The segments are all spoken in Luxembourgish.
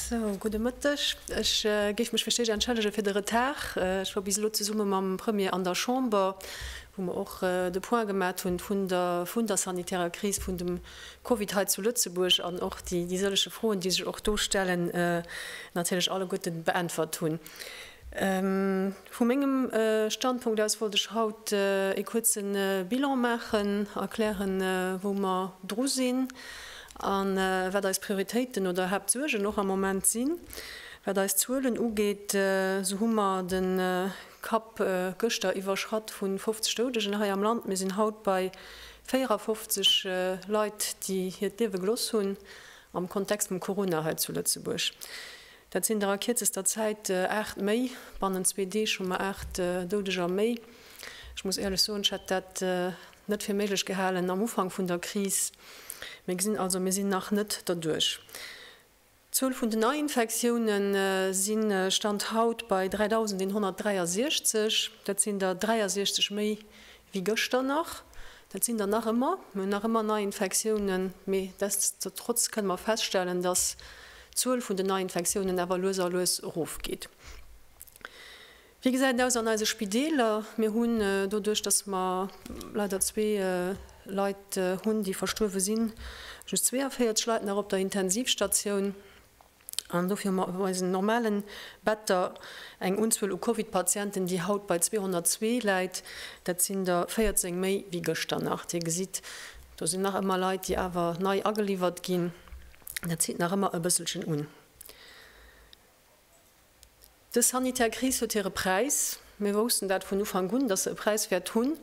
Sou, gudde Mëtteg. Ech géif mech fir d'éischt entschëllege fir de Retard. Ech war bis elo zesumme mam Premier an der Chamber, wou mer och de Point gemat hunn vun der sanitärer Kris, vun dem Covid hei zu Lëtzebuerg an och déi sëllege Froen, déi sech och do stellen, natierlech alleguerte beäntwert hunn. Vu mengem Standpunkt aus wollt ech haut ee kuerze Bilan maachen, erklären, wou mer dru sinn a wat eis Prioritéiten oder Haaptsuergen och am Moment sinn. Wat eis Zuelen ugeet, esou hu mer de Kapp gëschter iwwerschratt vu 50 Doudegen hei am Land. Mir sinn haut bei 54 Leit, déi hiert Liewe geloss hunn am Kontext vum Corona hei zu Lëtzebuerg. Dat sinn der a kierzester Zäit 8 méi. Bannent zwee Deeg hu mer 8 Doudeger méi. Ech muss éierlech soen, ech hätt dat net fir méiglech gehalen am Ufank vun der Kris. Mir gesinn also, mir sinn nach net derduerch. D'Zuel vun den Neiinfektioune si Stand haut bei 3.163. Dat sinn der 63 méi wéi gëschter nach. Dat sinn der nach ëmmer. Mir hunn nach ëmmer Neiinfektiounen, mee destotrotz kënne mer feststellen, dass d'Zuel vun den Neiinfektiounen awer lues a lues erofgeet. Wéi gesäit et aus an eise Spideeler? Mir hunn doduerch, dass mer leider zwee Leit hunn, déi verstuerwe sinn, just 42 Leit nach op der Intensivstatioun. An dofir hu mer eisen normale Better eng Unzuel u Covid-Patienten, déi haut bei 202 läit. Dat sinn der 14 méi wéi gëschter nach. Dir gesitt, do sinn nach ëmmer Leit, déi awer nei ageliwwert ginn. Dat zitt nach ëmmer e bësselchen un. Dës sanitär Kris huet hire Präis. Mir woussten dat vun Ufank un, dass se e Präis wäert hunn.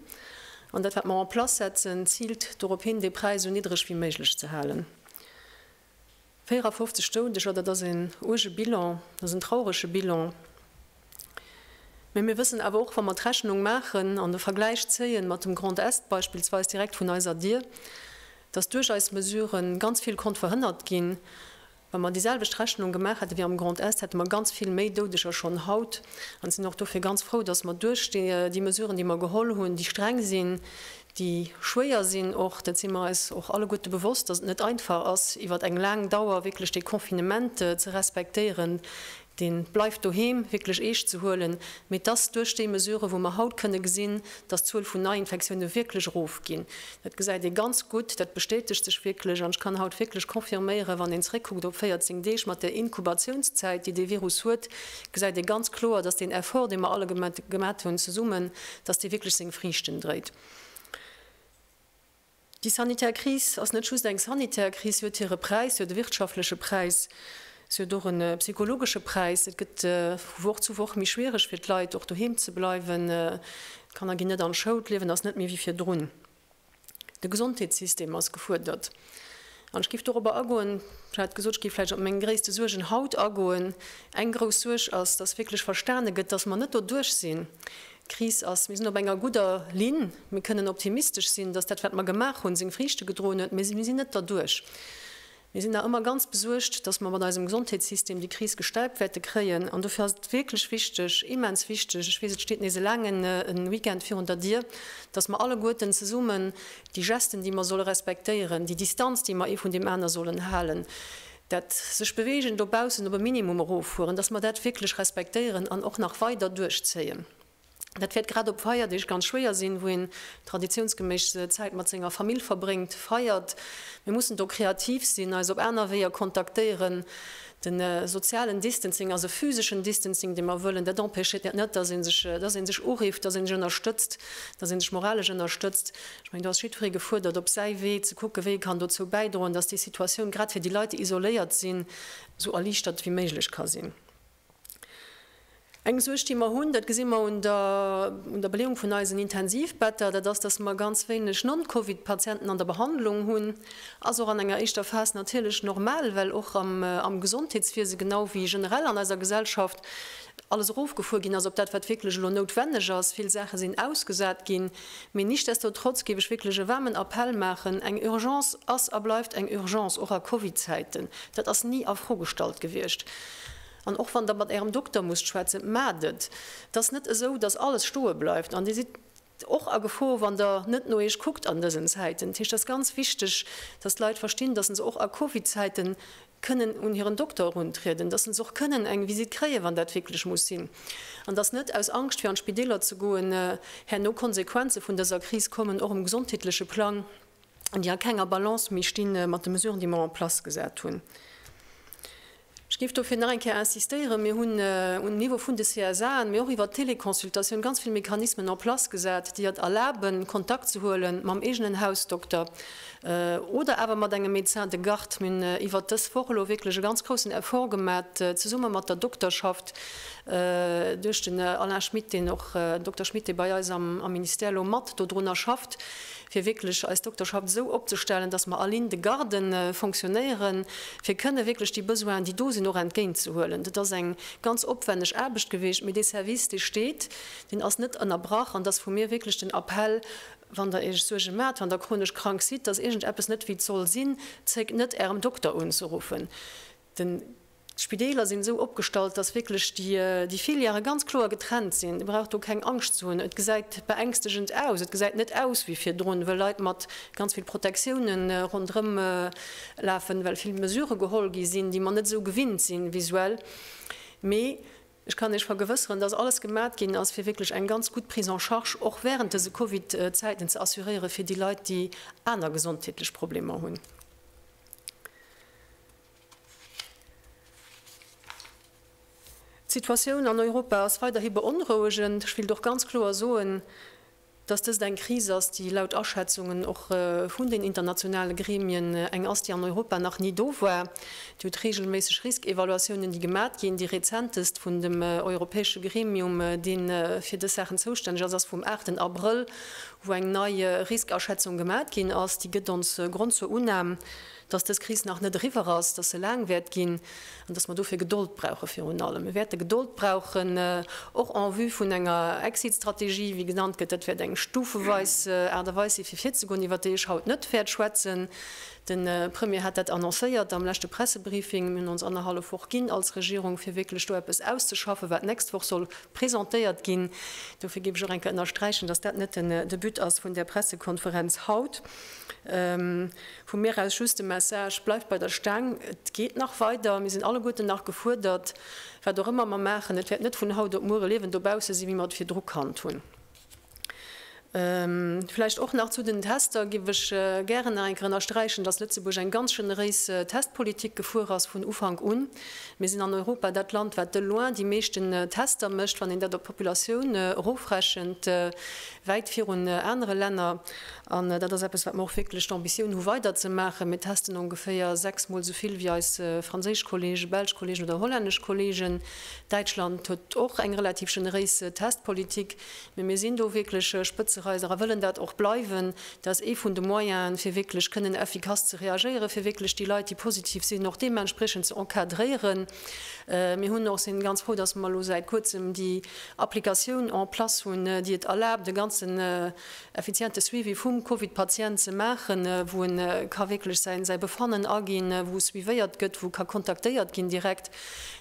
An dat, wat mer en place setzen, ziilt dorop hin, dee Präis esou niddreg wéi méiglech ze halen. 54 Doudeger, dat ass een uerge Bilan, dat ass en traurege Bilan. Mä mir wëssen awer och, wa mer d'Rechnung maachen an de Vergläich zéien mat dem Grand Est beispillsweis direkt vun eiser Dier, dass duerch eis Mesurë ganz vill konnt verhënnert ginn. Wa mer déi selwecht Rechnung gemaach hätte wéi am Grand Est, hätte mer ganz vill méi Doudeger schonn haut an sinn och dofir ganz frou, dass mer duerch déi Mesuren, déi mer geholl hunn, déi streng sinn, déi schwéier sinn och, dat si mer eis och alleguerte bewosst, datt et net einfach ass iwwert eng laang Dauer wierklech dee Confinement ze respektéieren, dee Bleift doheem wierklech eescht ze huelen, mee datt duerch déi Mesurë wou mer haut kënne gesinn, datt d'Zuel vun Neiinfektioune wierklech erofginn. Dat gesäit ee ganz gutt, dat bestätegt sech wierklech an ech kann haut wierklech confirméieren, wann een zréckkuckt op 14 Deeg mat där Inkubatiouns-zäit déi dee Virus huet, gesäit ee ganz kloer, datt deen Effort dee mer alle gemat hunn zesummen, dass dee wierklech seng Friichten dréit. Déi sanitär Kris ass net just eng sanitär Kris, si huet hire Präis, si huet e wirtschaftleche Präis, si huet och e psychologesche Präis. Et gëtt vu Woch zu Woch méi schwiereg fir d'Leit och doheem ze bleiwen, d'Kanner ginn net an d'Schoul, d'Liewen ass net méi wéi virdrun. De Gesondheetssystem ass gefuerdert. An ech géif dorobber agoen, ech hat gesot, ech géif vläicht op meng gréisste Suergen haut agoen. Eng grouss Suerg ass, datt wierklech verstane gëtt, datt mer net doduerch sinn. D'Kris ass, mir sinn op enger gudder Linn, mir kënnen optimistesch sinn, datt dat wat mer gemaach hunn, seng Friichte gedroen huet, mee mir sinn net derduerch. Mir sinn nach ëmmer ganz besuergt, dass mer mat eisem Gesondheetssystem déi Kris gestemmt wäerte kréien. An dofir ass et wierklech wichteg, immens wichteg, ech weess, et steet nees e laangen Weekend virun der Dier, dass mer alleguerten zesummen déi Gesten, déi mer solle respektéieren, déi Distanz, déi mer ee vun deem aner sollen halen, dat sech bewegen dobaussen op e Minimum eroffueren, dass mer dat wierklech respektéieren an och nach weider duerchzéien. Dat wäert grad op Feierdeeg ganz schwéier sinn, wou een traditiounsgeméiss Zäit mat senger Famill verbréngt, feiert. Mir mussen do kreativ sinn, eis op aner Weeër kontaktéieren. De sozialen Distancing ass e physeschen Distancing, dee mer wëllen. Dat empêchéiert dat net, dass ee sech, dass een sech urifft, dass een sech ënnerstëtzt, dass een sech moralesch ënnerstëtzt. Ech mengen, do ass jiddweree gefuerdert, op säi Wee ze kucken, wéi ee kann dozou bäidroen, dass déi Situatioun grad fir déi Leit, déi isoléiert sinn, esou erliichtert wéi méiglech ka sinn. Eng Suerg, déi mer hunn, dat gesi mer un der Beleeung vun eisen Intensivbetter, dat ass, datt mer ganz wéineg Non-Covid-Patienten an der Behandlung hunn. Ass och an enger éischter Phas natierlech normal, well och am Gesondheetswiese genau wéi generell an eiser Gesellschaft alles erofgefuer ginn ass op dat, wat wierklech elo noutwenneg ass. Vill Saache sinn ausgesat ginn. Mee nichtsdestotrotz géif ech wierklech e waarmen Appell maachen, Eng Urgence ass a bleift eng Urgence, och a Covid-Zäiten. Dat ass ni a Fro gestallt gewiescht. An och wann Der mat Ärem Dokter musst schwätzen, maacht et. Et ass net esou, dass alles stoe bleift. An Dir sidd och a Gefor, wann Der net no Iech kuckt an dësen Zäiten. Dat heescht, et ass ganz wichteg, dass d'Leit verstinn, dass se och a Covid-Zäite kënnen un hiren Dokter eruntrieden, dass se och kënnen eng Visitt kréien, wann dat wierklech muss sinn, an dass net aus Angscht, fir an d'Spideeler ze goen, herno Konsequenze vun dëser Kris kommen, och um gesondheetleche Plang, déi a kenger Balance méi sti mat de Mesuren, déi mer en place gesat hunn. Ech géif dofir nach eng Kéier insistéieren, Mir hunn um Niveau vun de CSAen, mee och iwwert d'Teleconsultatioun ganz vill Mechanismen en place gesat, déi et erlaben, Kontakt ze huele mam eegenen Hausdokter oder awer mat engem Médecin de garde. Mir hunn iwwert dës Woch elo wierklech e ganz groussen Effort gemat, zesumme mat der Dokterschaft, duerch den Alain Schmit, deen och, Dokter Schmit, dee bei eis am Ministère elo mat dodrunner schafft. fir wierklech eis Dokterschaft esou opzestellen, dass mer all in de garde fonctionnéieren, fir kënne wierklech déi Besoinen, déi do sinn, och entgéintzehuelen. Dat ass eng ganz opwänneg Aarbecht gewiescht, mee dee Service, dee steet, deen ass net ënnerbrach. An et ass vu mir wierklech den Appell, Wann Der Iech Suerge maacht, wann Der chronesch krank sidd, dass iergendeppes net wéi et soll sinn, zéckt net, Ärem Dokter unzeruffen. D'Spideeler sinn esou opgestallt, dass wierklech déi Filièrë ganz kloer getrennt sinn. Dir braucht do keng Angscht ze hunn. Et gesäit beängstegend aus. Et gesäit net aus wéi virdrun, wëll Leit mat ganz vill Protektioune ronderëm lafen, well vill Mesurë geholl gi sinn, déi mer net esou gewinnt sinn visuell. Mee ech kann Iech vergewësseren, dass alles gemat ginn ass, fir wierklech eng ganz gutt Prise en charge och während dëse Covid-Zäiten ze assuréiere fir déi Leit, déi aner gesondheetlech Problemer hunn. D'Situatioun an Europa ass weiderhi beonrouegend. Ech wéilt och ganz kloer soen, dass dëst eng Kris ass, déi laut Aschätzungen och vun den internationale Gremien eng ass, déi an Europa nach ni do war. Dir hutt reegelméisseg Riskevaluatiounen, déi gemat ginn. Déi rezentest vun dem europäesche Gremium, dee fir dës Saachen zoustänneg ass, ass vum aachten Abrëll, wou eng nei Riskeaschätzung gemat ginn ass. Déi gëtt ons Grond zur Unam, dass dës Kris nach net eriwwer ass, dass se laang wäert ginn an dass mer dofir Gedold brauchen. Virun allem, mir wäerte Gedold brauchen, och en vue vun enger Exit-Strategie, wéi genannt gëtt. Dat wäert eng stufeweis Aart a Weis si fir virzegoen, iwwert déi ech haut net wäert schwätzen. De Premier hat dat annoncéiert am leschte Pressebriefing. Mir hunn ons annerhallef Woch ginn als Regierung, fir wierklech do eppes auszeschaffen, wat d'nächst Woch soll presentéiert ginn. Dofir géif ech och eng Kéier ënnersträichen, dass dat net de But ass vun där Pressekonferenz haut. Vu mir aus just de Message, Bleift bei der Staang, et geet nach weider, mir sinn alleguerten nach gefuerdert, wat och ëmmer mer maachen, et wäert net vun haut op muere liewend dobausse sinn, wéi mer et virdru kannt hunn. Vläicht och nach zu den Tester géif ech gären nach eng Kéier ënnersträichen, datt Lëtzebuerg eng ganz generéis Testpolitik gefuer ass vun Ufank un. Mir sinn an Europa dat Land, wat de loin déi meeschten Tester mécht, wann een dat op d'Populatioun erofrechent, wäit virun anere Länner. An dat ass eppes, wat mer och wierklech d'Ambitioun hu weiderzemaachen. Mir testen ongeféier sechs Mol esou vill wéi eis franséisch Kollegen, belsch Kollegen oder hollännesch Kollegen. Däitschland huet och eng relativ generéis Testpolitik. Mee mir sinn do wierklech Spëtzereiser a wëllen dat och bleiwen. Dat ass ee vun de Moyenen, fir wierklech kënnen effikass ze reagéieren, fir wierklech déi Leit, déi positiv sinn, och deementspriechend ze encadréieren. Mir hunn och, sinn ganz frou, dass mer elo säit Kuerzem déi Applikatioun en place hunn, déi et erlaabt, e ganzen effiziente Suivi vum Covid-Patient ze maachen, wou en ka wierklech säi Befannen aginn, wou suivéiert gëtt, wou ka kontaktéiert ginn direkt.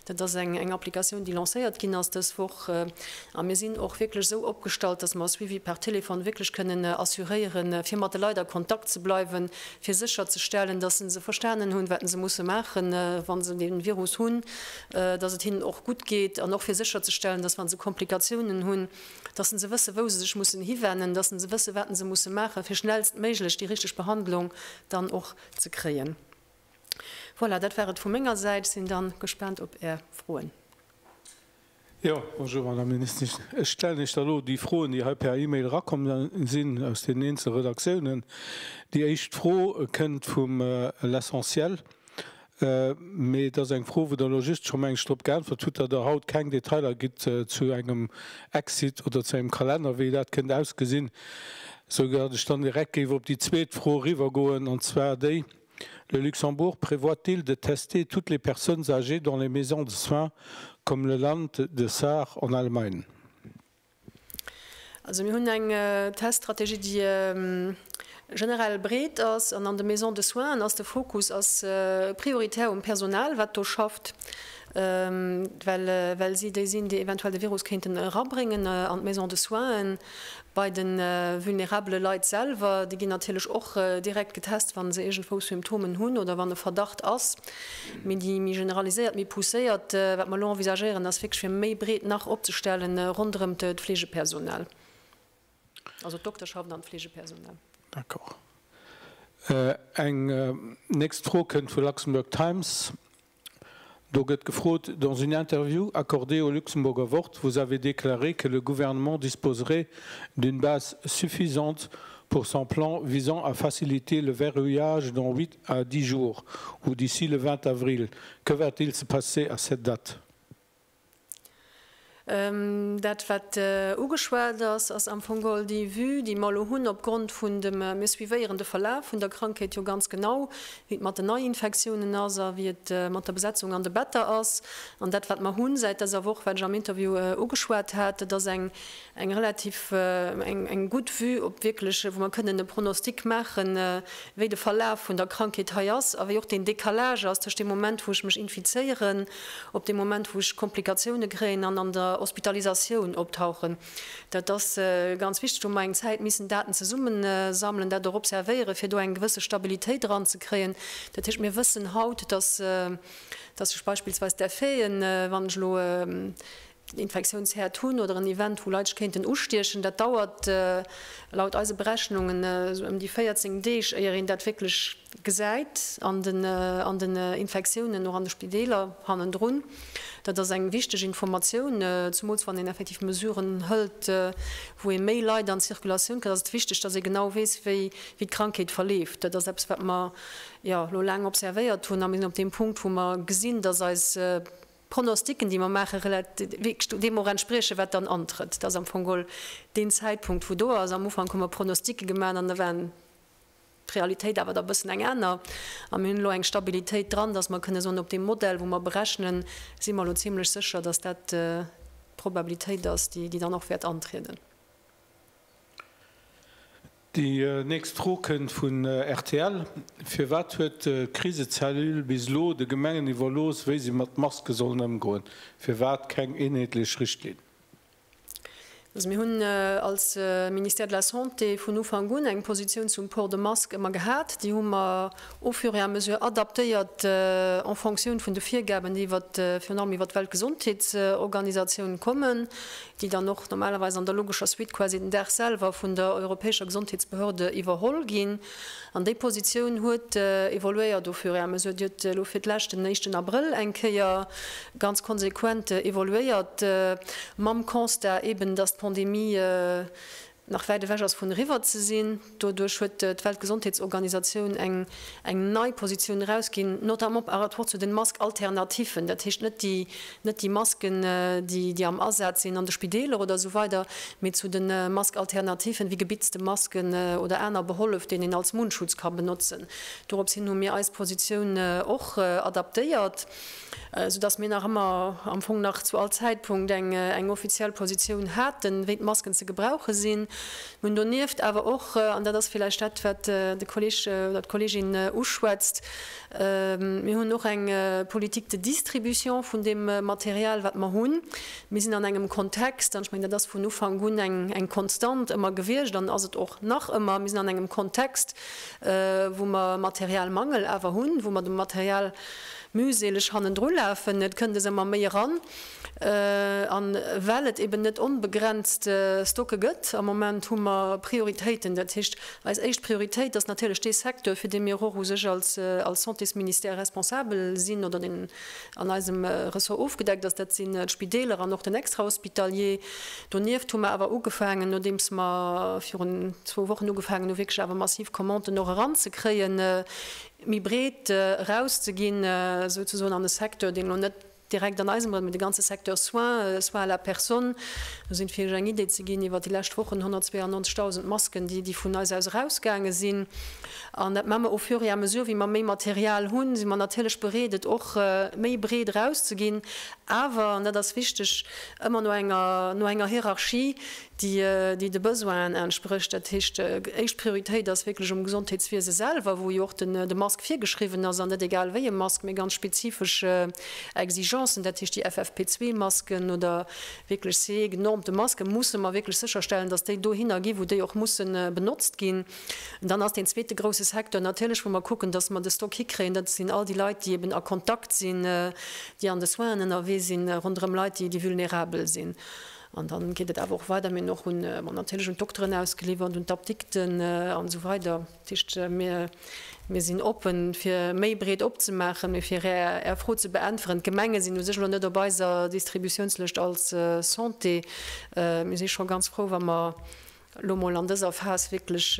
Dat ass eng Applikatioun, déi lancéiert ginn ass dës Woch. A mir sinn och wierklech esou opgestallt, dass mer e Suivi par téléphone wierklech kënnen assuréieren, fir mat de Leit a Kontakt ze bleiwen, fir sécherzestellen, dass se se verstanen hunn, wat se musse maachen, wa se de Virus hunn, dass et hinnen och gutt geet, an och fir sécherzestellen, dass, wa se Komplikatiounen hunn, datt se wësse wou se sech mussen hiwennen, datt se wësse wat se musse maachen, fir schnellstméiglech déi richteg Behandlung dann och ze kréien. Voilà, dat war et vu menger Säit. Sinn da gespaant op Är Froen. Jo, bonjour, Madame Ministesch. Ech stellen Iech da elo déi Froen, déi hei per E-Mail erakomm sinn aus deenen eenzel Redaktiounen. Déi éischt Fro kënnt vum L'Essentiel. Mee et ass eng Fro, wou Der elo just scho meng ech drop geäntwert hutt, datt Der haut keng Detailer gitt zu engem Exit oder zu engem Kalenner, wéi dat kënnt ausgesinn. Esou datt ech dann direkt géif op déi zweet Fro eriwwergoen, an zwar déi, Le Luxembourg prévoit-il de tester toutes les personnes âgées dans les maisons de soins comme le Land, de Saar, en Allemagne? Also mir hunn eng Teststrategie, déi generell breet ass. An an de Maisons de soins ass de Fokus ass prioritär um Personal, wat do schafft, well well si déi sinn, déi eventuell de Virus kéinten erabréngen an d'Maisons de soins. Bei de vulnerabele Leit selwer, déi ginn natierlech och direkt getest, wa se iergendwou Symptomen hunn oder wann e Verdacht ass. Mee déi méi generaliséiert, méi pousséiert, wat mer elo envisagéieren, ass wierklech fir méi breet nach opzestellen ronderëm d'Fleegepersonal, also d'Dokterschaft an d'Fleegepersonal. D'accord. Eng nächst Fro kënnt vu Luxembourg Times. Do gëtt gefrot, Dans une interview accordée au Luxemburger Wort, vous avez déclaré que le Gouvernement disposerait d'une base suffisante pour son plan visant à faciliter le verrouillage dans huit A di jour ou d'ici le 20 avril, que va-t-il se passer à cette date? Dat, wat ugeschwat ass, ass am Fong geholl déi Vue, déi mer elo hunn opgrond vun dem, mir suivéieren de Verlaf vun der Krankheet jo ganz genau, wéi et mat den Neiinfektiounen ass a wéi et mat der Besetzung an de Better ass. An dat, wat mer hunn säit dëser Woch, wat ech am Interview ugeschwat hat, dat ass eng. eng relativ eng gutt Vue op wierklech, wou mer kënnen e Pronostic maachen, wéi de Verlaf vun der Krankheet hei ass a wéi och deen Décalage ass tëscht deem Moment, wou ech mech infizéieren, op dee Moment, wou ech Komplikatioune kréien an an der Hospitalisatioun optauchen. Dat ass ganz wichteg, wou mer eng Zäit missen Daten zesummensammelen, dat och observéieren, fir do eng gewësse Stabilitéit eranzekréien. Dat heescht, mir wëssen haut, dass sech beispillsweis d'Effeten, wann ech elo en Infektiounsherd hunn oder en Event, wou Leit sech kéinten ustiechen. Dat dauert laut eise Berechnungen esou ëm déi 14 Deeg, éier een dat wierklech gesäit an den Infektiounen, och an de Spideeler hannendrun. Dat ass eng wichteg Informatioun, zemools wann een effektiv Mesuren hëlt, wou ee méi Leit an d'Circulatioun kritt, ass et wichteg, dass ee genau weess, wéi d'Krankheet verleeft. Dat ass eppes, wat mer elo laang observéiert hunn a mir sinn op deem Punkt, wou mer gesinn, dass eis Pronostiquen déi mer maache relativ deem och entspriechen wat dann antrëtt. Dat ass am Fong geholl deen Zäitpunkt wou do ass. Am Ufank hu mer Pronostiquen gemaach an da war d'Realitéit awer da bëssen eng aner. A mir hunn elo eng Stabilitéit dran, datt mer kënne soen op deem Modell wou mer berechnen si mer elo zimmlech sécher, datt dat d'Probabilitéit ass déi dann och wäert antrieden. Déi nächst Fro kënnt vun rtl, Firwat huet d'Krisecellule bis elo de Gemengen iwwerlooss, wéi si mat Maske sollen ëmgoen? Firwat keng eenheetlech Richtlinn? Also mir hunn als Ministère de la Santé vun Ufank un eng Positioun zum Port de Masque ëmmer gehat. Déi hu mer au fur et à mesure adaptéiert en fonction vun de Virgaben, déi iwwert, virun allem iwwert d'Weltgesondheetsorganisatioun kommen, déi dann och normalerweis an der logescher Suite quasi den Dag selwer vun der europäescher Gesondheetsbehörde iwwerholl ginn. An déi Positioun huet evoluéiert au fur et à mesure. Dir huet elo fir d'Lescht den éischten Abrëll eng Kéier ganz konsequent evoluéiert, mam Constat eben, dass d'Pandemie nach wäit ewech ass vun eriwwer ze sinn. Doduerch huet d'Weltgesondheetsorganisatioun eng nei Positioun erausginn, notamment par rapport zu den Masques alternatives, dat heescht net déi net déi Masken déi am Asaz sinn an de Spideeler oder esou weider, mee zu de Masques alternatives wéi gebitzte Masken oder aner Behollef deen een als Mundschutz ka benotzen. Doropshin hu mir eis Positioun och adaptéiert. sou dass mir nach ëmmer am Fong nach zu all Zäitpunkt eng eng offiziell Positioun haten, wéi d'Masken ze gebrauche sinn. Mir hunn donieft awer och, an dat ass villäicht dat, wat de Kolleg oder d'Kollegin uschwätzt, mir hunn och eng Politique de distribution vun deem Material, wat mer hunn. Mir sinn an engem Kontext, an ech mengen, dat ass vun Ufank un eng eng Konstant ëmmer gewiescht an ass et och nach ëmmer, mir sinn an engem Kontext, wou mer Materialmangel awer hunn, wou mer dem Material, mühseleg hannendru lafen, et kënnt es ëmmer méi eran. An well et eben net onbegrenzt Stocke gëtt, am Moment hu mer Prioritéiten. Dat heescht, eis éischt Prioritéit ass natierlech dee Secteur, fir dee mir och u sech als Santésministère responsabel sinn oder deen an eisem Ressort ofgedeckt ass, dat sinn d'Spideeler an och den Extrahospitalier. Donieft hu mer awer ugefaangen, nodeems mer virun zwou Wochen ugefaangen hu wierklech awer massiv Commanden och eranzekréien, méi breet erauszeginn, souzesoen an e Secteur, deen elo net direkt an eisem Beräich, mee de ganze Secteur soins, soins à la personne, do sinn, fir Iech eng Idee ze ginn, iwwert déi lescht Wochen 192.000 Masken, déi, déi vun eis aus erausgaange sinn. An dat mme mer au fur et à mesure, wéi mer méi Material hunn, si mer natierlech bereet, et och méi breet erauszeginn, awer, an dat ass wichteg, ëmmer no enger, no enger Hierarchie, déi de Besoinen entsprécht. Dat heescht, éischt Prioritéit ass wierklech um Gesondheetswiese selwer, wou jo och de Mask virgeschriwwen ass, an net egal wéi e Mask, mee ganz spezifesch Exigencen, dat heescht déi FFP2-Masken oder wierklech CE-genormte Maske musse mer wierklech sécherstellen, datt déi dohinner ginn, wou déi och musse benotzt ginn. Dann ass deen zweete grousse Secteur natierlech, wou mer kucken, datt mer de Stock hikréien, dat sinn all déi Leit, déi eben a Kontakt sinn, déi an de Soinen ënnerwee sinn, ronderëm Leit, déi vulnerabel sinn. An dann geet et awer och weider, mir och hunn natierlech un d'Dokteren ausgeliwwert, un d'Apdikten an esou weider. Dat heescht, mir, mir sinn oppen, fir méi breet opzemaachen. Mee fir Är, Är Fro ze beäntweren, d'Gemenge sinn u sech elo net op eiser Distributiounslëscht als Santé. Mir si scho ganz frou, wa mer, elo mol an dëser Phas wierklech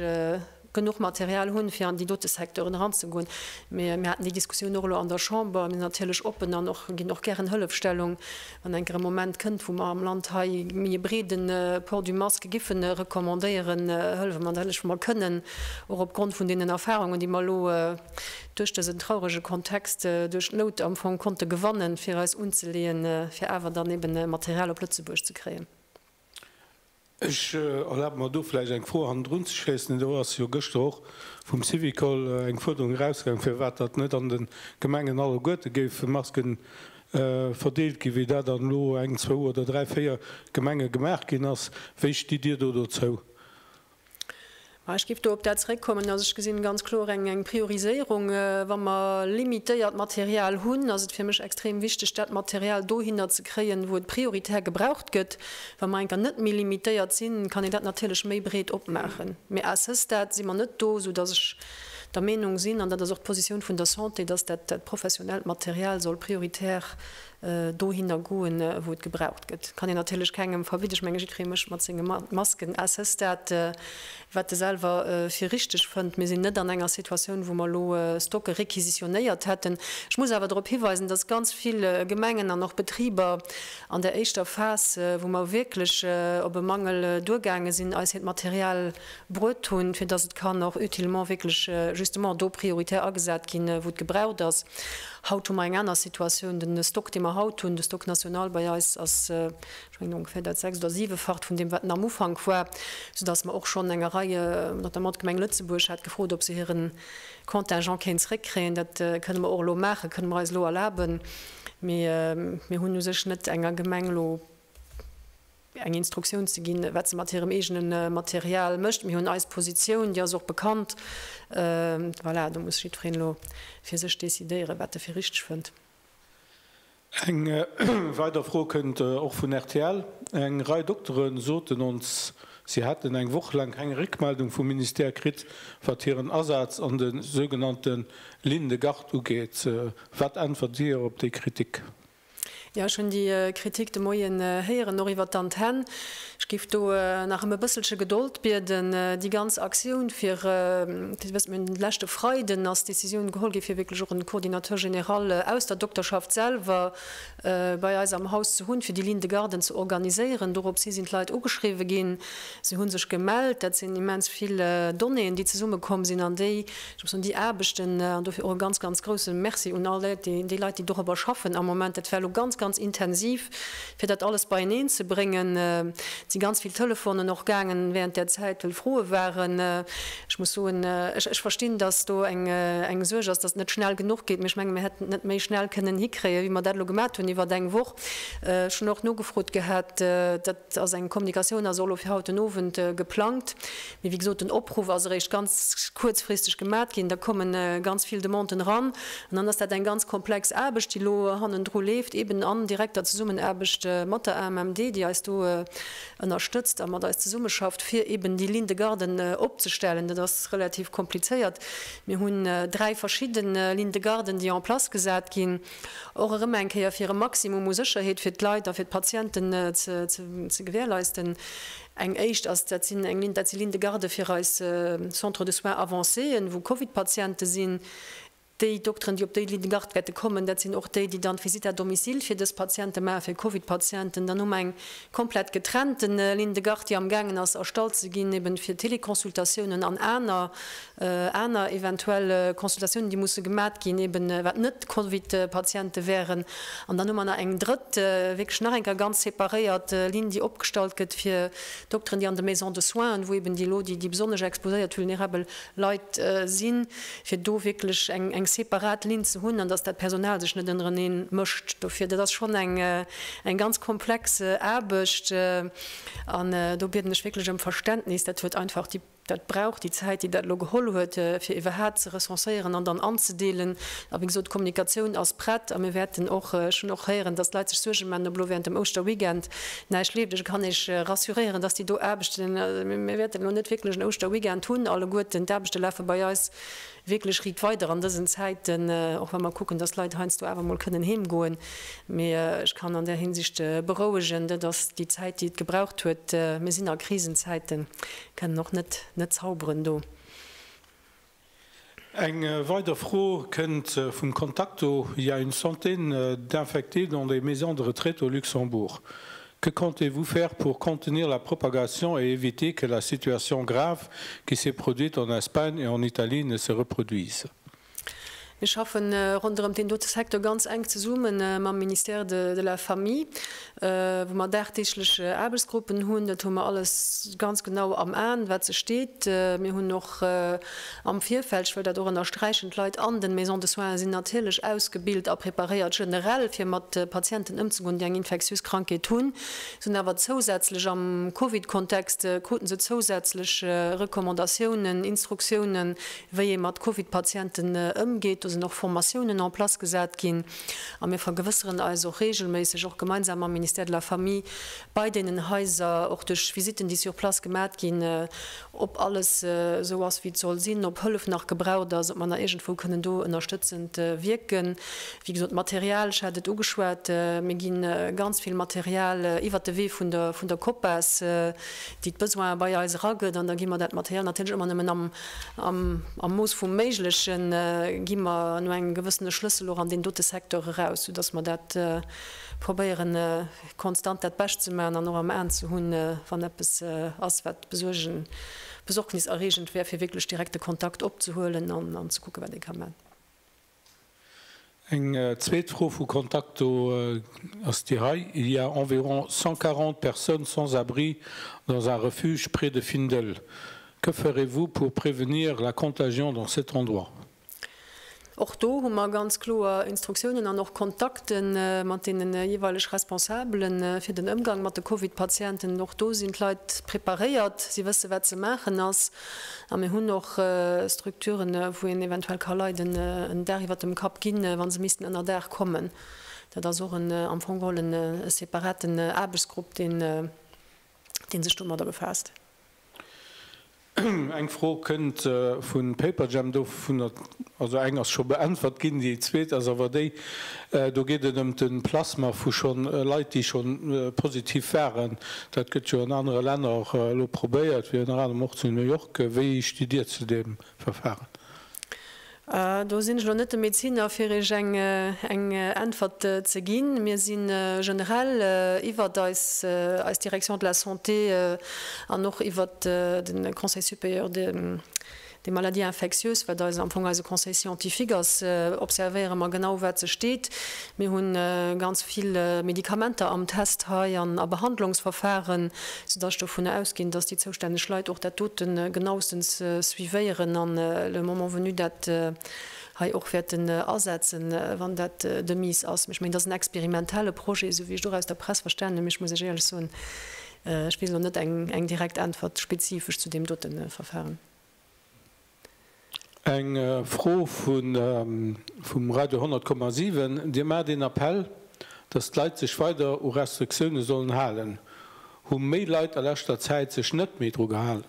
genuch Material hunn, fir an déi dote Secteuren eranzegoen. Mir haten déi Diskussioun och elo an der Chamber. Mir sinn natierlech oppen an ginn och gären Hëllefstellung, wann enk erëm e Moment kënnt, wou mer am Land hei méi e breede Port du masque géife recommandéieren, hëllefe mer natierlech, wou mer kënnen, och opgrond vun deenen Erfarungen, déi mer elo duerch dësen traurege Kontext, duerch d'Nout am Fong konnte gewannen, fir eis unzeleeën, fir awer dann eeben Material op Lëtzebuerg ze kréien. Ech erlabe mer do vläicht eng Fro hannendrun ze schléissen. Do ass jo gëschter och vum Syvicol eng Fuerderung erausgaangen, firwat datt net an de Gemengen alleguerte géife Masken verdeelt ginn, wéi dat an elo eng, zwou oder dräi, véier Gemenge gemaach ginn ass. Wéi stitt Dir do dozou? Ech géif do op dat zréckkommen, dass ech gesinn ganz kloer eng Prioriséierung. Wa mer limitéiert Material hunn, ass et fir mech extrem wichteg, dat Material dohinner ze kréien, wou et prioritär gebraucht gëtt. Wa mer eng Kéier net méi limitéiert sinn, kann een dat natierlech méi breet opmaachen. Mee à ce stade si mer net do, soudass ech der Meenung sinn, an dat ass och d'Positioun vun der Santé, dass dat professionellt Material soll prioritär dohinner goen wou et gebraucht gëtt, kann een natierlech kengem verbidden. Ech menge jiddweree mécht mat senge Masken à ce stade wat e selwer fir richteg fënnt. Mir sinn net an enger Situatioun wou mer elo Stocke requisitionnéiert hätten. Ech muss awer drop hiweisen, datt ganz vill Gemengen an och Betriber an där éischter Phas wou mer wierklech op e Mangel duergaange sinn, eis hiert Material bruet hunn, fir datt et kann och utilement wierklech justement do prioritär agesat ginn, wou et gebraucht ass. Haut hu mer eng aner Situatioun. De Stock, dee mer haut hunn, de Stock national bei eis, ass, ech mengen, ongeféier dat sechst oder siwefacht vun deem, wat en am Ufank war, soudass mer och schonn enger Rei, notamment d'Gemeng Lëtzebuerg hat gefrot, ob se hire Contingent kéint zeréckkréien. Dat kënne mer och elo maachen, kënne mer eis elo erlaben. Mee mir hunn u sech net enger Gemeng elo eng Instruktioun ze ginn, wat se mat hirem eegene Material mécht. Mir hunn eis Positioun, déi ass och bekannt. Voilà, do muss jiddwereen elo fir sech decidéieren, wat e fir richteg fënnt. Eng weider Fro kënnt och vun rtl. Eng Rei Doktere soten ons, si hätten eng Woch laang keng Réckmeldung vum Ministère kritt, wat hiren Asaz an de sougenannte Ligne de garde ugeet. Wat äntwert Dir op déi Kritik? Jo, ech hunn déi Kritik de Moien héieren, och iwwert d'Antenn. Ech géif do nach ëm e bësselche Gedold bieden. Déi ganz Aktioun fir, fir ze wëssen, mir hunn leschte Freiden ass d'Decisioun geholl gi fir wierklech och e Coordinateur général aus der Dokterschaft selwer bei eis am Haus ze hunn, fir déi Ligne de garden ze organiséieren. Dorops hi sinn d'Leit ugeschriwwen ginn. Si hu sech gemellt. Dat sinn immens vill Donnéeën, déi zesummekomm sinn an déi, ech muss soen, déi Aarbechten, an dofir och e ganz, ganz grousse Merci un all Léit, déi Leit, déi dorobber schaffen am Moment, dat war elo ganz, ganz intensiv, fir dat alles beieneen ze bréngen. Et si ganz vill Telefonen och gaangen während där Zäit, well Froe waren. Ech muss soen, ech verstinn, dass do eng Suerg ass, dass et net schnell genuch geet, mä ech menge mir hätten et net méi schnell kënnen hikréien, wéi mer dat elo gemat hunn iwwert eng Woch. Ech hunn och nogefrot gehat. Et ass eng Kommunikatioun a solo fir haut den Owend geplangt. Mee wéi gesot, den Opruff ass eréischt ganz kuerzfristeg gemat ginn. Da komme ganz vill Demanden eran an dann ass dat eng ganz komplex Aarbecht, déi elo hannendru leeft, eeben an direkter Zesummenaarbecht mat der AMMD, déi eis do ënnerstëtzt a mat eis zesummeschafft, fir eeben déi Ligne de garde opzestellen. Dat ass relativ komplizéiert. Mir hunn dräi verschidde Lignes de garde, déi en place gesat ginn. och erëm eng Kéier fir e Maximum u Sécherheet fir d'Leit a fir d'Patienten ze gewährleisten. Eng éischt ass, dat sinn eng Ligne, dat si Lignes de garde fir eis Centres de soins avancéen, wou Covid-Patiente sinn. Déi Dokteren, déi op déi Ligne de garde wäerte kommen, dat sinn och déi, déi dann d'Visitt à domicile fir dës Patiente maache fir Covid-Patienten. Dann hu mer eng komplett getrennte Ligne de garde, déi amgaangen ass erstallt ze ginn, eben fir Téléconsultatiounen an aner Aner eventuell Consultatiounen, déi musse gemat ginn, eben wat net Covid-Patiente wären. An dann hu mer nach eng drëtt, wierklech nach eng Kéier ganz separéiert Linn, déi opgestallt gëtt fir Dokteren, déi an de Maisons de soins, wou eben déi elo déi besonnesch exposéiert, vulnerabel Leit sinn, fir do wierklech eng separat Linn ze hunn an dass dat Personal sech net ënnereneen mëscht dofir. Dat ass schonn eng ganz komplex Aarbecht an do bieden ech wierklech ëm Verständnis. Dat huet einfach déi. Dat brauch déi Zäit, déi dat elo geholl huet, fir iwwerhaapt ze recenséieren an dann anzedeelen. A wéi gesot, d'Kommunikatioun ass prett a mir wäerten och, ech hunn och héieren, datt d'Leit sech Suerge maachen, ob elo während dem Ouschterweekend näischt leeft. Ech kann Iech rassuréieren, datt déi do Aarbechten, mir wäerten elo net wierklech en Ouschterweekend hunn alleguerten. D'Aarbechte lafe bei eis wierklech riit weider an dësen Zäiten, och wa mer kucken, dass d'Leit heiansdo awer emol kënnen heem goen. Mee ech kann an där Hinsicht berouegen, dat ass déi Zäit, déi et gebraucht huet. Mir sinn a Krisenzäiten, kënnen och net net zauberen do. Eng weider Fro kënnt vum Contacto, Il y a une centaine d'infectés dans des maisons de retraite au Luxembourg. Que comptez-vous faire pour contenir la propagation et éviter que la situation grave qui s'est produite en Espagne et en Italie ne se reproduise? Mir schaffe ronderëm deen dote Secteur ganz enk zesumme mam Ministère de la Famille, wou mer dagdeeglech Aarbechtsgruppen hunn. Dat hu mer alles ganz genau am Aen, wat sech deet. Mir hunn och. Am Virfeld, ech wëll dat och ënnersträichen, d'Leit an den Maisons de soins sinn natierlech ausgebilt a preparéiert generell fir mat Patienten ëmzegoen, déi eng infektiös Krankheet hunn, sinn awer zousätzlech am Covid-Kontext, kruten se zousätzlech Recommandatiounen, Instruktiounen, wéi ee mat Covid-Patienten ëmgeet. Do sinn och Formatiounen en place gesat ginn a mir vergewësseren eis och reegelméisseg, och gemeinsam mam Ministère de la Famille, bei deenen Haiser, och duerch Visiten, déi sur place gemat ginn, ob alles esou ass wéi et soll sinn, ob Hëllef nach gebraucht ass, ob mer nach iergendwou kënnen do ënnerstëtzend wierken. Wéi gesot, d'Material, ech hat et ugeschwat, mir gi ganz vill Material iwwert de Wee vun der vun der Copas, déi d'Besoine bei eis eragëtt, an da gi mer dat Material natierlech ëmmer nëmmen am am Mooss vum Méigleche gi mer no engem gewëssene Schlëssel och an deen dote Secteur eraus, soudass mer dat probéieren, konstant dat Bescht ze maachen an och am Aen ze hunn, wann eppes ass, wat besuergen, besorgniserreegend wär, fir wierklech direkt de Kontakt opzehuelen an ze kucken, wat ee ka maachen. Eng zweet Fro vu Contacto ass déi hei, Il y a environ 140 personnes sans abri dans un refuge près de Findel. Que ferez-vous pour prévenir la contagion dans cet endroit? Och do hu mer ganz kloer Instruktiounen an och Kontakte mat deene jeeweileg Responsabele fir den Ëmgang mat de Covid-Patienten. Och do sinn d'Leit preparéiert, si wësse wat ze maachen ass. A mir hunn och Strukturen, wou een eventuell ka Leiden en Dag iwwert dem Kapp ginn, wa se missten ënnerdaach kommen. Dat ass och am Fong geholl e separaten Aarbechtsgrupp, dee sech domadder befaasst. Eng Fro kënnt vu Paperjam, dovunner also eng ass scho beäntwert ginn, déi zweet ass awer déi, do geet et ëm de Plasma vu schonn Leit, déi scho positiv waren. Dat gëtt jo an anere Länner och elo probéiert, fir ënner anerem och zu New York. Wéi sti Dir zu deem Verfaren? Do sinn ech elo net de Medeziner, fir Iech eng Äntwert ze ginn. Mir si generell iwwert eis Direction de la Santé an och iwwert de Conseil supérieur des maladies infectieuses, wat am Fong eise Conseil scientifique ass, observéiere mer genau, wat sech deet. Mir hu ganz vill Medikamenter am Test hei an a Behandlungsverfahren, soudass ech dovunner ausginn, dass déi zoustänneg Leit och dat dote genauestens suivéieren an le moment venu dat hei och wäerten asetzen, wann dat de Mise ass. Mee ech mengen, dat ass en experimentelle Projet, esou wéi ech et och aus der Press verstanen hunn. Mee ech muss Iech éierlech soen, Ech weess elo net eng direkt Äntwert spezifesch zu deem dote Verfahren. Eng Fro vum Radio 10,7, Dir maacht een Appell, datt d'Leit sech weider u Restriktioune sollen halen. Hu méi Leit a leschter Zäit sech net méi dru gehalen?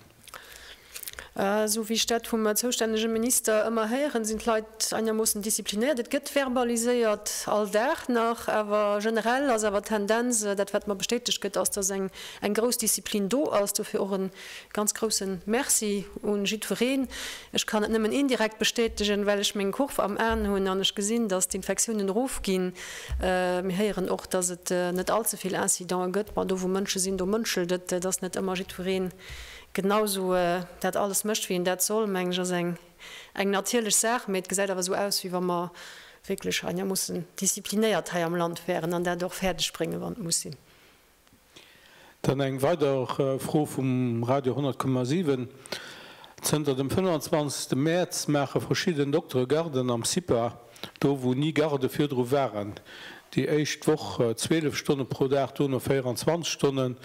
Esou wéi ech dat vum zoustännege Minister ëmmer héieren, sinn d'Leit einermoossen disziplinéiert. Et gëtt verbaliséiert, all Dag nach. Awer generell ass awer d'Tendenz, dat wat mer bestätegt gëtt, ass, datt eng grouss Disziplin do ass. Dofir och e Ganz groussen Merci un jiddwereen. Ech kann et nëmmen indirekt bestätegen, well ech meng Kurv am Aen hunn an ech gesinn, dass d'Infektiounen erof ginn. Mir héieren och, dass et net all ze vill Incidenten gëtt. Mä do wou Mënsche sinn, do mënschelt et. Et ass net ëmmer jiddwereen genau sou dat alles mécht wéi en dat soll, meng ech ass eng eng natierlech Saach. Mee et gesäit awer sou aus wéi wa mer wierklech, an jo, mussen disziplinéiert hei am Land wäeren an dat och fäerdeg bréngen, wann et muss sinn. Dann eng weider Fro vum Radio 10,7, Zënter dem 25 Mäerz maache verschidden Doktere Garden am CIPA, do wou ni Garde virdru waren. Déi éischt Woch 12 Stonne pro Dag, duerno 24 Stonnen.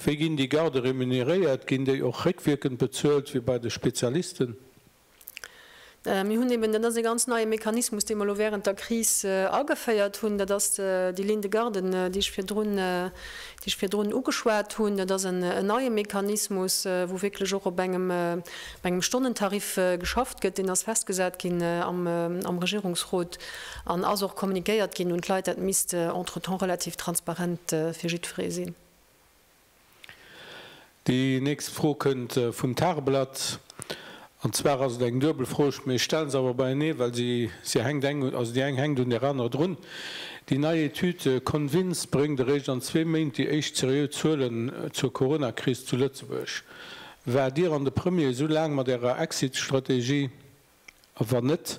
Wéi ginn déi Garde remuneréiert? Ginn déi och réckwierkend bezuelt wéi bei de Spezialisten? Mir hunn eben, dat ass e ganz neie Mechanismus, dee mer elo während der Kris ageféiert hunn, dat ass déi Ligne de garde, déi ech virdrun, déi ech virdrun ugeschwat hunn. Dat ass en neie Mechanismus, wou wierklech och op engem, op engem Stonnentarif geschafft gëtt. Deen ass festgesat ginn am, am Regierungsrot an ass och communiquéiert ginn un d'Leit. Dat misst entretemps relativ transparent fir jiddweree sinn. Déi nächst Fro kënnt vum Tageblatt. An zwar ass et eng duebel Fro, ech stelle se awer beienee, well se hänkt eng, also déi eng hänkt un där anerer drun. Déi nei Etüd Convince bréngt eréischt an zwee Méint déi éischt seriö Zuelen zur Coronakris zu Lëtzebuerg. Waart Dir an de Premier esou laang mat Ärer Exit-Strategie? A wann net,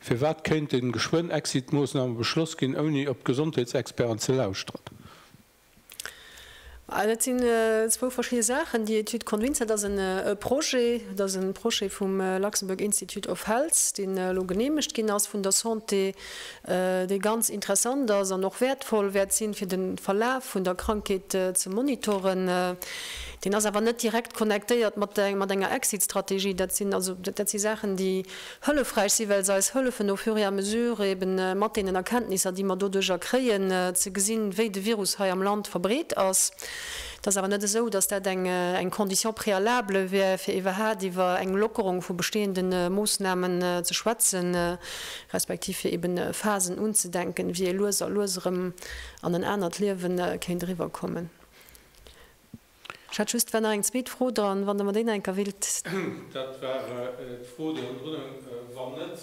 firwat kéinte geschwënn Exit-Moossname beschloss ginn, ouni op d'Gesondheetsexperten ze lauschteren? Dat sinn zwou verschidde Saachen. Déi Etüd Convincent ass e Projet, et ass e Projet vum Luxembourg Institute of Health, deen elo geneemegt ginn ass vun der Santé, dee ganz interessant ass an och wäertvoll wäert sinn, fir de Verlaf vun der Krankheet ze monitoren. Deen ass awer net direkt connectéiert mat enger Exit-Strategie. Dat si Saachen, déi hëllefräich si, well se eis hëllefen au fur et à mesure eeben mat deenen Erkenntnisser, déi mer doduercher kréien, ze gesinn, wéi de Virus hei am Land verbreet ass. Et ass awer net esou, dass dat eng Condition préalable wär, fir iwwerhaapt iwwer eng Lockerung vu bestehende Moosnamen ze schwätzen, respektiv fir eeben Phasen unzedenken, wéi ee lues a lues erëm an en anert Liewe kéint eriwwerkommen. Ech hat just, war nach eng zweet Fro dran, wann Der mer déi nach eng Kéier willt. Dat war d'Fro, déi ënnendrun hung, Wann net,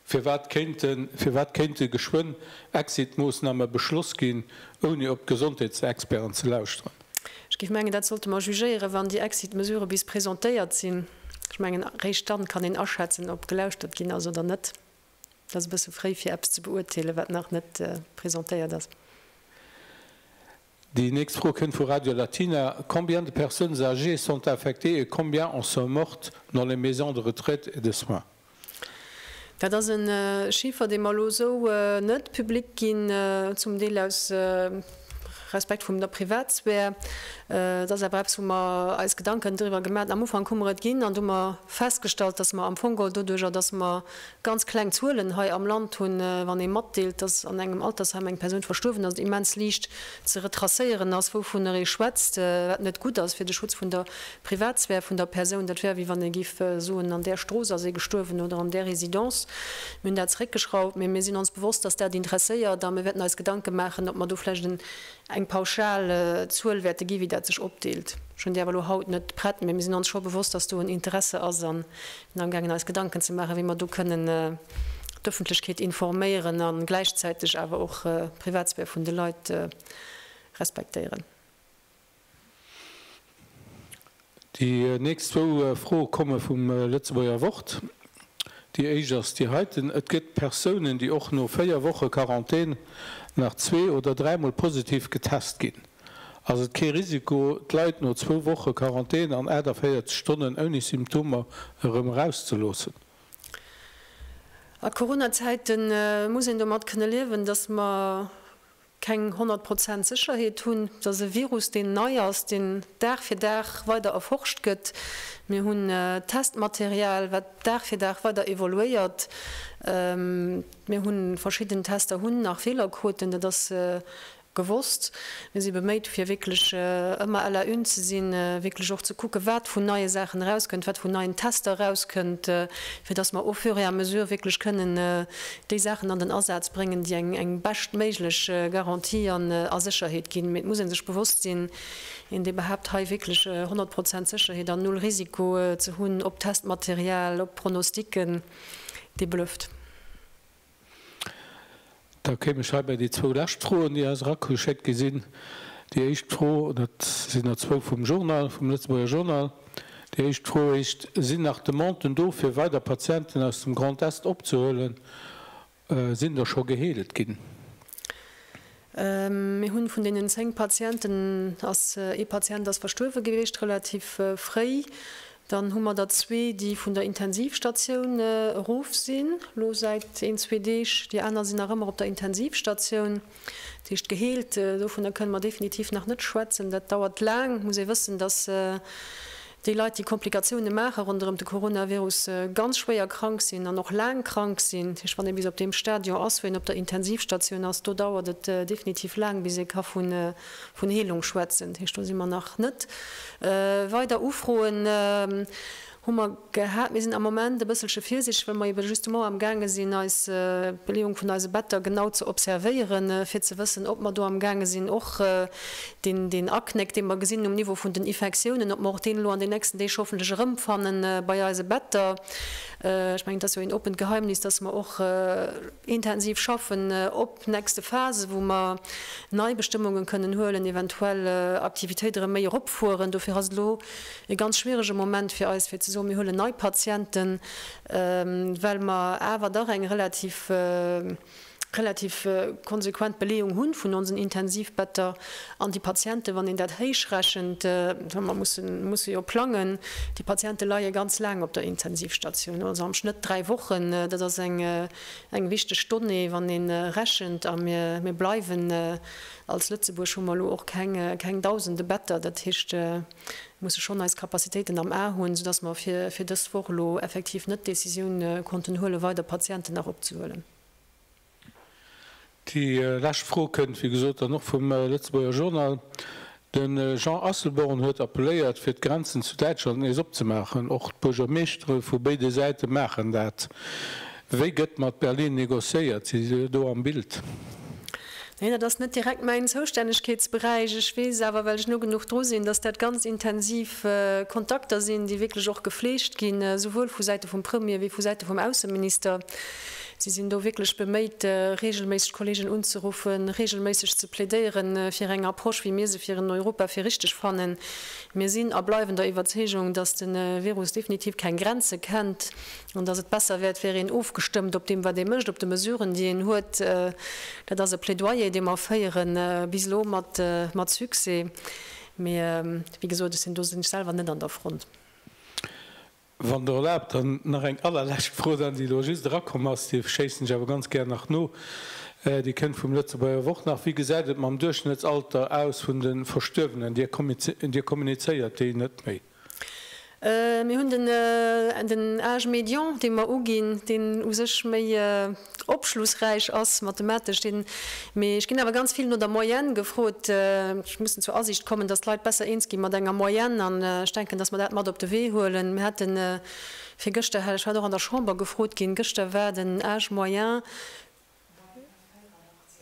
firwat kéinte geschwënn Exit-Moossname beschloss ginn, ouni op d'Gesondheetsexperten ze lauschteren? Ech géif mengen, dat sollte mer jugéieren, wann déi Exit-Mesurë bis presentéiert sinn. Ech mengen, eréischt dann kann een aschätzen, ob gelauschtert ginn ass oder net. Et ass e bësse fréi, fir eppes ze beurteelen, wat nach net presentéiert ass. Déi nächst Fro kënnt vu Radio Latina, Combien de personnes âgées sont infectées et combien en sont mortes dans les maisons de retraite et de soins? Dat ass e Chiffer, dee mer elo esou net public ginn, zum Deel aus Respekt vum der Privatsphär. Et ass awer eppes, wou mer eis Gedanken driwwer gemaat hunn. Am Ufank hu mer et ginn an do hu mer festgestallt, dass mer am Fong geholl doduerjer, dass mer Ganz kleng Zuelen hei am Land hunn, wann ee matdeelt, dass an engem Altersheim eng Persoun verstuerwen ass, immens liicht ze retracéieren ass, wouvunner ee schwätzt, wat net gutt ass fir de Schutz vun der Privatsphär vun der Persoun. Dat wär wéi wann ee géif soen, an där Strooss ass ee gestuerwen oder an där Residence. Mir hunn dat zeréckgeschrauft, mee mir sinn ons bewosst, dass dat interesséiert a mir wäerten eis Gedanke maachen, ob mer do vläicht en Eng pauschal Zuel wäerte ginn, wéi dat sech opdeelt, hunn déi awer elo haut net prett. Mee mir sinn ons scho bewosst, dass do en Interesse ass a sinn amgaangen eis Gedanken ze maachen, wéi mer do kënnen d'Ëffentlechkeet informéieren a gläichzäiteg awer och d'Privatsphär vun de Leit respektéieren. Déi nächst zwou Froe komme vum Lëtzebuerger Wort. Déi éischt ass déi heiten, Et gëtt Persounen, déi och no véier Woche Quarantän nach zwee oder dräimol positiv getest ginn. Ass et kee Risiko, d'Leit no zwou Woche Quarantän an 48 Stonnen ouni Symptomer erëm erauszeloossen? A Corona-Zäite muss een domat kënne liewen, datt mer keng 100 Prozent Sécherheet hunn, dass e Virus, deen nei ass, deen Dag fir Dag weider erforscht gëtt, mir hunn Testmaterial, wat Dag fir Dag weider evoluéiert, mir hu verschidden Tester hunn nach Feelerquoten, dat ass gewosst, mir si beméit, fir wierklech ëmmer à la une ze sinn, wierklech och ze kucken, wat vun neie Saachen erauskënnt, wat vun neien Tester erauskënnt, fir dass mer au fur et à mesure wierklech kënnen déi Saachen an den Asaz bréngen, déi eng beschtméiglech Garantie an a Sécherheet ginn. Mee et muss ee sech bewosst sinn, een dee behaapt hei wierklech 100 Prozent Sécherheet an null Risiko ze hunn op Testmaterial, op Pronostiquen, dee blufft. Da kéim ech hei bei déi zwou lescht Froen, déi eis erageschéckt gi sinn. Déi éischt Fro, dat sinn der zwou vum Journal, vum Lëtzebuerger Journal. Déi éischt Fro heescht, Sinn nach Demanden do fir weider Patienten aus dem Grand Est opzehuelen? Sinn der scho geheelt ginn? Mir hunn vun deenen 10 Patienten ass ee Patient ass verstuerwe gewiescht, relativ fréi. Dann hu mer der zwee, déi vun der Intensivstatioun erof sinn, elo säit een, zwee Deeg. Déi aner sinn nach ëmmer op der Intensivstatioun. Dat heescht geheelt, dovunner kënne mer definitiv nach net schwätzen. Dat dauert laang. Et muss ee wëssen, datt déi Leit, déi Komplikatioune maache ronderëm de Coronavirus, ganz schwéier krank sinn an och laang krank sinn. Dat heescht, wann ee bis op deem Stadion ass, wou een op der Intensivstatioun ass, do dauert et definitiv laang, bis ee ka vun Heelung schwätzen. Dat heescht, do si mer nach net. Weider Ufroen? Hu mer gehat. Mir sinn am Moment e bësselche virsichteg, well mer ebe justement amgaange sinn, eis Beleeung vun eise Better genau ze observéieren, fir ze wëssen, ob mer do amgaange sinn, och deen Aknéck, dee mer gesinn um Niveau vun den Ifektiounen, ob mer och deen elo an den nächsten Deeg hoffentlech erëmfannen bei eise Better. Ech mengen, et ass jo een oppent Geheimnis, dass mer och intensiv schaffen, ob. Nächste Phase, wou mer nei Bestëmmungen kënnen huelen, eventuell Aktivitéit erëm méi eropfueren. Dofir ass et elo e ganz schwierege Moment fir eis, fir ze soen, mir huelen nei Patienten, well mer awer dach eng relativ, relativ konsequent Beleeung hu vun onsen Intensivbetter. An déi Patienten, wann een dat héichrechent, well mer mussen, musse jo plangen, déi Patienten leie ganz laang op der Intensivstation, also am Schnëtt dräi Wochen. Dat ass eng Eng wichteg Donnée, wann ee rechent, a mir bleiwen als Lëtzebuerg, hu mer elo och keng dausende Better, dat heescht, musse schonn eis Capacitéiten am A hunn, soudass mer fir dës Woch elo effektiv net d'Décisioun konnten huelen, weider Patienten nach opzehuelen. Déi lescht Fro kënnt, wéi gesot, dann och vum Lëtzebuerger Journal. De Jean Asselborn huet appelléiert, fir d'Grenzen zu Däitschland nees opzemaachen. Och d'Buergermeeschtere vu béide Säite maachen dat. Wéi gëtt mat Berlin negociéiert? Sidd Dir do am Bild? Neen, dat ass net direkt mäin Zoustännegkeetsberäich. Ech weess awer, well ech no genuch dru sinn, datt dat ganz intensiv Kontakter sinn, déi wierklech och gefleegt ginn, souwuel vu Säite vum Premier wéi vu Säite vum Ausseminister. Si sinn do wierklech beméit, reegelméisseg Kolleegen unzeruffen, reegelméisseg ze plädéiere fir eng Approche, wéi mir se fir en Europa fir richteg fannen. Mir sinn a bleiwen der Iwwerzeegung, dass de Virus definitiv keng Grenze kennt an dass et besser wäert, wär een ofgestëmmt op deem, wat ee mécht, op de Mesuren, déi een huet. Dat ass e Plädoyer, dee mer féieren, bis elo mat Succès. Mee, wéi gesot, ech sinn do selwer net an der Front. Wann Der erlaabt, dann nach eng allerlescht Fro, well déi elo just erakomm ass. Déi schéissen ech awer ganz gär nach no. Déi kënnt vum Lëtzebuerger Wort nach. Wéi gesäit et mam Duerchschnëttsalter aus vun de Verstuerwenen? Dir kommunizéiert déi net méi? Mir hunn den âge médian, dee mer uginn, deen u sech méi opschlussräich ass mathematesch den, mee ech ginn awer ganz vill no der Moyenne gefrot. Ech mussen zur Asiicht kommen, dass d'Leit besser eens gi mat enger Moyenne an ech denken, dass mer dat mat op de Wee huelen. Mir haten virgëschter, hat ech hat och an der Chamber gefrot ginn, gëschter war den âge moyen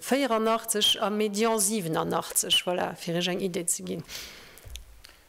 84 a médian 87, voilà, fir Iech eng Idee ze ginn.